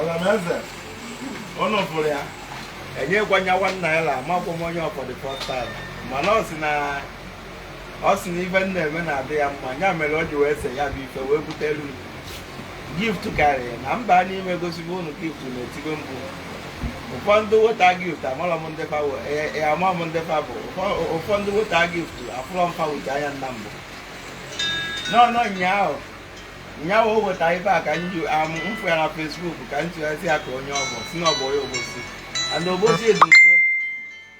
ọlọmeze ụnụ fụrụ ya enyekwa nya one naira amakwụ m onye for the first time mana ọ sị na ọ sị na ife m na-eme na-adị ya mma ya mere o ji wee se ya bụ ife wee butelu m gift karịrị na mba a n'ime gosigo unu gift na-etigo mbụ ụfọdụ weta gift amara m ndị fa wụ- e- e- ama m ndị fa bụ Ụfọ- ụfọdụ weta gift afụrọ m fa wute anya nna mbụ n'ọnụ ụnyaahụ ụnyaahụ o weta ife a ka m ji am m fụ ya na Facebook ka m tụghazi ya ka onye ọ bụ si na ọ bụ onye Obosi and Obosi dị nso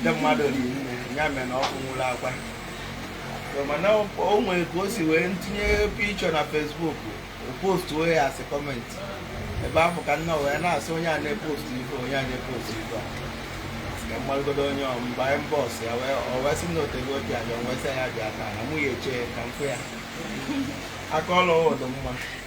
ndị mmadụ rinne ya mere na ọkụ nwụrụ akwa mana o nwere ka o si wee tinye picture na Facebook o post wee ya asị comment ebe afụ ka nna wee na-asị onye a na-epostu ife onye a na-epostu ife ka m malụgodu onye m baa inbox ya wee sị na o tego obi abịa wee sị ya bịa taa na mụ ya-eche ka m fụ ya aka ọlụ ọ dụ mma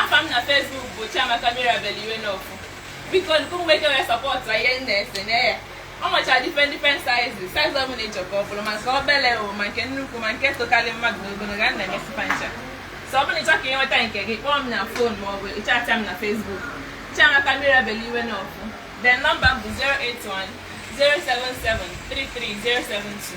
afa m na Facebook bụ Chiamaka Mirabel Iwenofu biko nke mgbe ike wee support ihe m na-ese na ya o nwecha different different sizes size ọ bụla ị chọ ka ọ bụrụ ma nke obele o ma nke nnukwu ma nke tokarị mmadụ n'ogologo a na-emesi fa ncha so ọ bụrụ na ị chọ ka ị nweta nke gị kpọọ m na phone ma ọ bụ ị chatịa m na Facebook Chiamaka Mirabel Iwenofu then number m bụ 081 077 33072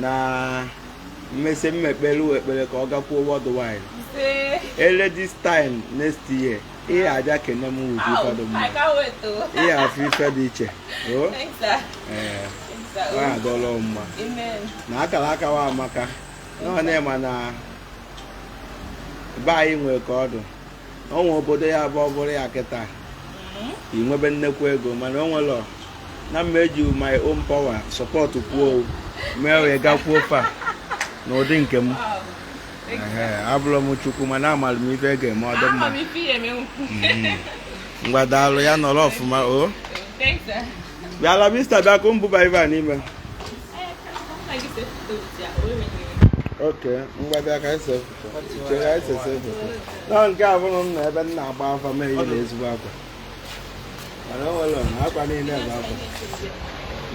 na m mesi mmekpelu ekpere ka ọ gakwuo worldwide e lue this time next year ị ya-abịa kene m wete ife dụ mma ị ya-afụ ife dị iche nwaanyị adọla mma na akaraka a amaka na unu ma na be anyị nwere ka ọ dụ o nwe obodo ya bụ ọ bụrụ ya kịta mm-hmm. i nwebe nnekwu ego mana o nwerọ na m ma-eji my own power support kwuo mee o wee gakwuo far na ụdị nke m abụrọ m Chukwu mana amara m ife ga-eme ọ dị mma mm-hmm. ngwa daalụ ya nọrọ ọfụma o bịala mista bịa ka m bụba ife a n'ime eh, Okay, I'm going to na nke a bụrụ na ebe m na-agba afa m eyirọ ezigbo akwa mana o nwerọ na akwa niile bụ akwa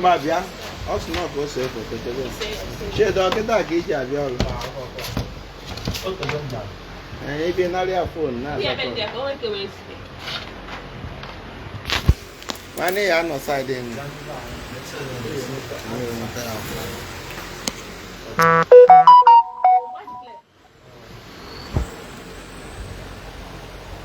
ma bịa ọ sị na ọ ka o see foto chebe Chinedu ọ kịta ka i ji abịa ọrụ ị bịa nara ya phone na-azakọ nwanne ya nọ side enyi